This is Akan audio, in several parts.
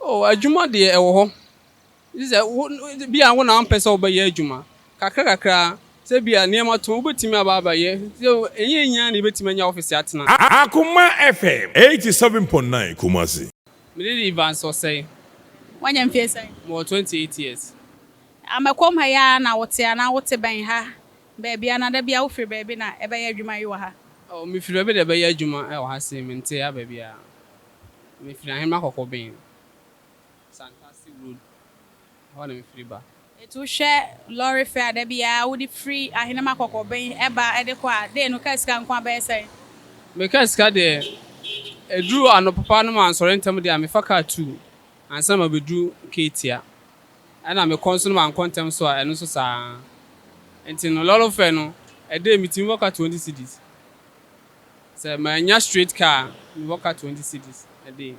O, adwuma deɛ ɛwɔ hɔ. Gye sɛ wo, bia wo na wompɛ sɛ wobɛyɛ adwuma. Kakra kakra, sɛ bia nneɛma to, wobɛtumi aba abɛyɛ. So ɛnyɛ nyinaa na yɛbɛtumi anya ɔfese atena? Akoma FM, 87.9 Kumasi. Me din de Evans Osei. Wanya mfeɛ sɛn? Mewɔ 28 years. A Mɛkɔm ha yi ara na wote anaa wote bɛn ha baabi anaa da biara wofiri baabi na ɛbɛyɛ adwuma yi wɔ ha? O, mefiri baabi na ɛbɛyɛ adwuma wɔ ha sei, mente ha baabiara. Mefiri Ahenemma Kɔkɔben, Santase Road, ɛhɔ na mefiri ba. Nti wohwɛ lɔre fɛ a da biara wode firi Ahenemma Kɔkɔben ba de kɔ a, day no car sika nko ara bɛyɛ sɛn? Me car sika deɛ, ɛduru anɔpapa na mansɔre ntɛm deɛ a, mefa car two ansa na mabɛduru Ketia. Ɛna mekɔ nso na mankɔ ntɛm nso a, ɛno nso saa ara. Nti no, lɔre fɛ no, a day metumi bɔ ka twenty cedis. Sɛ mannya straight car a, mewɔ ka twenty cedis. Ɛdeɛn?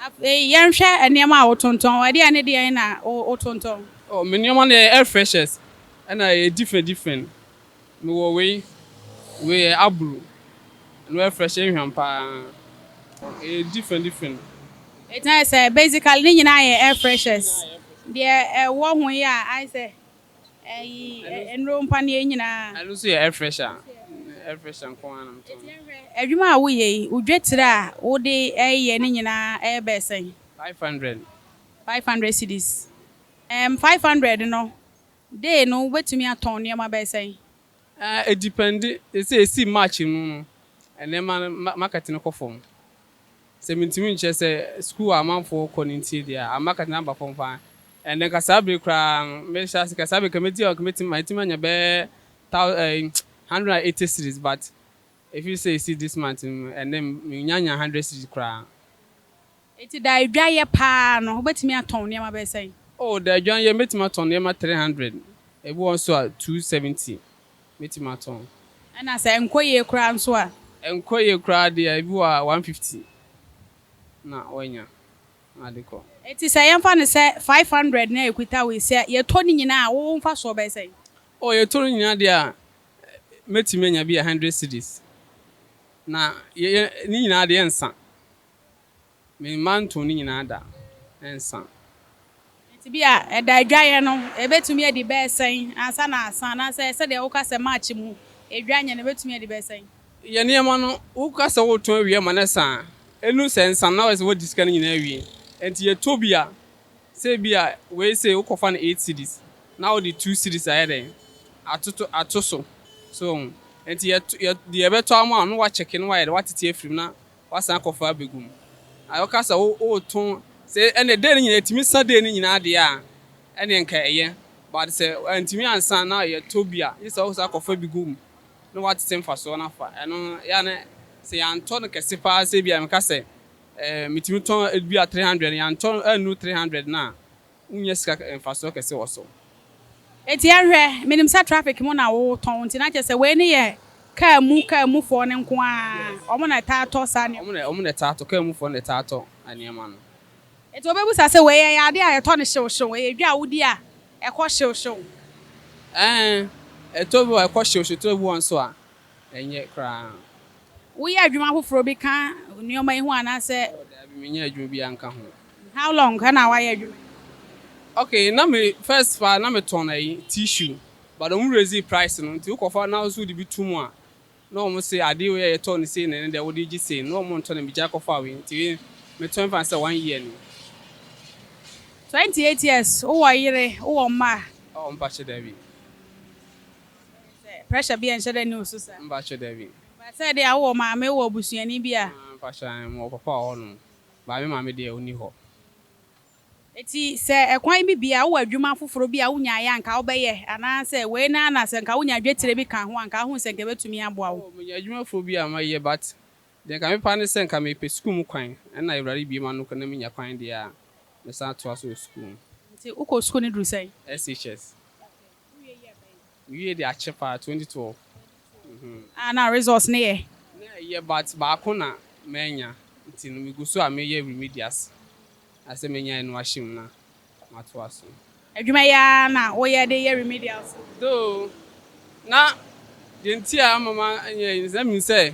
Afei yɛnhwɛ nneɛma a wotontɔn. Ɛdeɛn ne deɛn na wotontɔn? Oh, me nneɛma no yɛ air freshers, ɛna ɛyɛ different different. Mewɔ wei, wei yɛ aburo, ɛno air fresh nhwam pa ara. Ɛyɛ different different. Ɛtena sɛ basically ne nyinaa yɛ air freshers. Deɛ ɛwɔ ho yi a ayɛ sɛ Ɛyi nnuro mpa ne yɛ nyinaa. Ɛno nso yɛ air fresher. Air fresher nko ara na metɔn. Adwuma a woyɛ yi, wo dwetire a wode yɛ ne nyinaa ɛyɛ bɛyɛ sɛn? Five hundred. Five hundred cedis. Ɛɛm five hundred no, day no wobɛtumi atɔn nneɛma bɛyɛ sɛn? Ɛɛ ɛdipendi. Sɛ ɛsii March mu no, nneɛma no market no kɔ fam. Sɛ mintumi nkyerɛ sɛ sukuu a amanfoɔ kɔ no ntie deɛ a, amma Katina aba fam paa. Ɛnna nka saa bere koraa no, mehyɛ ase ka, saa bere nka mɛdi a nka mɛtumi, matumi anya bɛyɛ thou eh, hundred and eighty cedis, but ɛfiri sɛ ɛsii this month no mu, ɛnnɛ mennyanyaa hundred cedis koraa. Enti da a adwa yɛ paa no, wobɛtumi atɔn nneɛma bɛyɛ sɛn? Oh, da a adwa yɛ no, mɛtumi atɔn nneɛma three hundred, ebi wɔ hɔ nso a, two seventy. mɛtumi atɔn. Ɛna sɛ ɛnkɔ yie koraa nso a? Ɛnkɔ yie koraa deɛ ebi wɔ a one fifty na wanya na ade kɔ. Nti sɛ yɛmfa no sɛ five hundred na ɛkuta wo yi, sɛ yɛtɔ ne nyinaa a, wo mfasoɔ bɛyɛ sɛn? Oh yɛtɔ no nyinaa deɛ a, mɛtumi anya bi a hundred cedis. Na yɛ yɛ ne nyinaa deɛ ɛnsa. Memma ntoo ne nyinaa da nsa. Enti bi a ɛda adwaeɛ no ɛbɛtumi adi bɛyɛ sɛn ansa na asa anaasɛ sɛdeɛ woka sɛ March mu ɛdwa nyɛ no ɛbɛtumi adi bɛyɛ sɛn? Yɛ nneɛma no, woka sɛ woretɔn awie ama no asa a, ɛnu sɛ nsa no na woayɛ sɛ woadi sika no nyinaa awie. Enti yɛ tɔ bi a, sɛ ebi a wei sei wokɔfa no eight cedis na wode two cedis ayɛ dɛn? Atoto ato so. So wohu? Enti yɛ to yɛ deɛ ɛbɛtɔ ama wo no na woakyɛke na woayɛ dɛn? Woatete afiri mu na Wasan akɔfa abegu mu. Na woka sɛ woreto sɛ ɛnneɛ dee no nyinaa ɛtumi sa dee no nyinaa deɛ a, ɛnneɛ nka ɛyɛ. But sɛ antumi ansa na yɛtɔ bi a, gye sɛ wosan akɔfa bi gu mu na woatete mfasoɔ no afa. Ɛno yɛ a na sɛ yɛantɔ no kɛse pa ara sɛ ebia meka sɛ ɛɛ metumi tɔn ebia three hundred, yɛantɔ annu three hundred no a, Wonnya sika mfasoɔ kɛse wɔ so. Enti yɛnhwɛ, menim sɛ traffic mu na wotɔn nti na kyerɛ sɛ wei no yɛ kaa mu kaa mu foɔ no nko ara, wɔn na ɛtaa tɔ saa nneɛma. Wɔn na wɔn na ɛtaa tɔ, kaa mu foɔ no na ɛtaa tɔ nneɛma no. Enti wɔbɛbisa sɛ wei ɛyɛ adeɛ a yɛtɔ no hyew hyew, ɛyɛ dwa a wodi a ɛkɔ hyew hyew? Ɛɛ, ɛtɔ bi wɔ hɔ a ɛkɔ hyew hyew, ɛtɔ bi wɔ hɔ nso a Ɛnyɛ koraa. Woyɛ adwuma foforɔ bi ka nneɛma yi ho anaasɛ? Oh, daabi, menyɛ adwuma biara nka ho. How long na woayɛ adwuma yi? Okay, na me first paa na me tɔn ayi, tissue, but wɔn raise price no, nti wokɔfa na wo so wode bi to mu a, na wɔn se adeɛ wei a yɛtɔɔ no sei na ɛne deɛ wode gye sei no, na wɔn ntɔ na megyae kɔfaa wei, nti wei me tɔn paa sɛ one year ni. Twenty eight years, wowɔ yere, wowɔ mma? Oh, mpakye daabi. Pressure bia nhyɛ da nni wo so saa? Mpakyɛ dabi. But sɛ deɛ a wowɔ maame wɔ abusuani bi a. Ah mpakyɛ ae mewɔ papa wɔ hɔ nom but me maame deɛ ɔnni hɔ. Eti sɛ ɛkwan bi bia wowɔ adwuma foforɔ bi a wonyaeɛ a nka wobɛyɛ anaa sɛ wei no ara na sɛ nka wonya dwetire bi ka ho a nka wohu sɛ nka ɛbɛtumi aboa wo? Oh menya adwuma foforɔ bi a mɛyɛ but deɛ nka me pɛ ara ne sɛ nka mepɛ sukuu mu kwan ɛna awurade bue m'ano na menya kwan deɛ a mɛsan atoa so wɔ sukuu mu. Nti wokɔ sukuu no duru sɛn? SHS. Mewie de akyɛ paa twenty twelve. Ah na results no yɛ? Na ɛyɛ but baako na mannya nti no megu so a meyɛ remedials na sɛ menya ɛno ahyɛ mu na matoa so. Adwuma yi ara na woyɛ de yɛ remedials no? Though na deɛ nti a ama manyɛ yi no sɛ na menim sɛ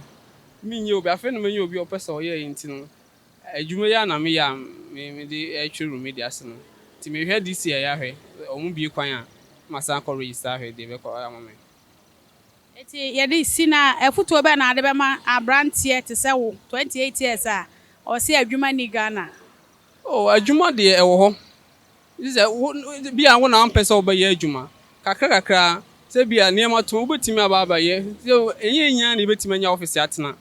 menyɛ obi afei na manya obi a ɔpɛ sɛ ɔyɛ nti no Adwuma yi a na meyɛ a mede retwe Rumi de ase no nti, mehwɛ DC a ɛyɛ ahwɛ. Sɛ wɔbue kwan a, na masan akɔ register ahwɛ deɛ ɛbɛkɔ ayɛ ama me. Enti yɛde si no a, afotuo bɛn na wode bɛma aberanteɛ te sɛ wo, 28 years a ɔse adwuma nni Ghana? Oh, adwuma deɛ ɛwɔ hɔ. Gye sɛ wo, ebia wo na wompɛ sɛ wobɛyɛ adwuma. Kakrakakra, sɛ ebia nneɛma tõ a, wubetumi aba abɛyɛ. So ɛnyɛ nyinaa na yebetumi anya office atena?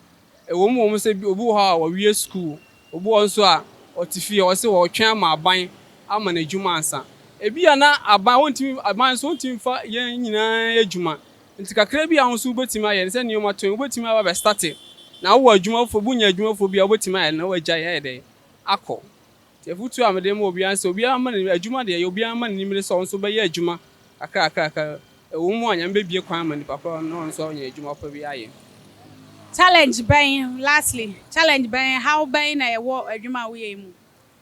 Ɛwom, ɛwom sɛ obi wɔ hɔ a wawie sukuu, obi wɔ hɔ nso a ɔte fie a ɔse ɔretwɛn ama aban ama no adwuma ansa. Ebia na aban, wontumi, aban nso wontumi mfa yɛn nyinaa nyɛ adwuma. Enti kakra bi a wo nso wubetumi ayɛ no, sɛ nneɛma tõ a, wubetumi aba abɛstate. Na wowɔ adwuma foforɔ bi, wunya adwuma foforɔ bi a, wubetumi ayɛ na woagyae ayɛ dɛn? Akɔ. Nti afotu a mede ma obiara ne sɛ obiara mma n'ani, adwuma deɛ ɛyɛ, obiara mma n'ani mmere sɛ ɔno nso bɛyɛ adwuma kakrakrakra. Ɛwɔ mu a Nyame bɛbue kwan ama nipa korɔ no na ɔno nso anya adwuma pa bi ayɛ. Challenge bɛn, lastly, challenge bɛn, ɛhaw bɛn na ɛwɔ adwuma a woyɛ yi mu?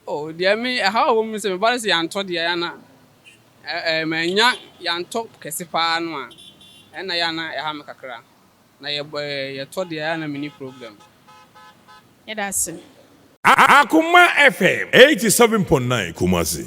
Oh, deɛ me, ɛhaw a ɛwɔ mu ne sɛ meba no sɛ yɛantɔ deɛ ɛyɛ a na ɛɛ, mannya, yɛantɔ kɛse paa no a, ɛno na ɛyɛ a na ɛha me kakra. Na yɛ bɔ yɛ yɛ tɔ deɛ a na menni problem. Yɛdase. Akoma FM eighty seven point nine Kumasi.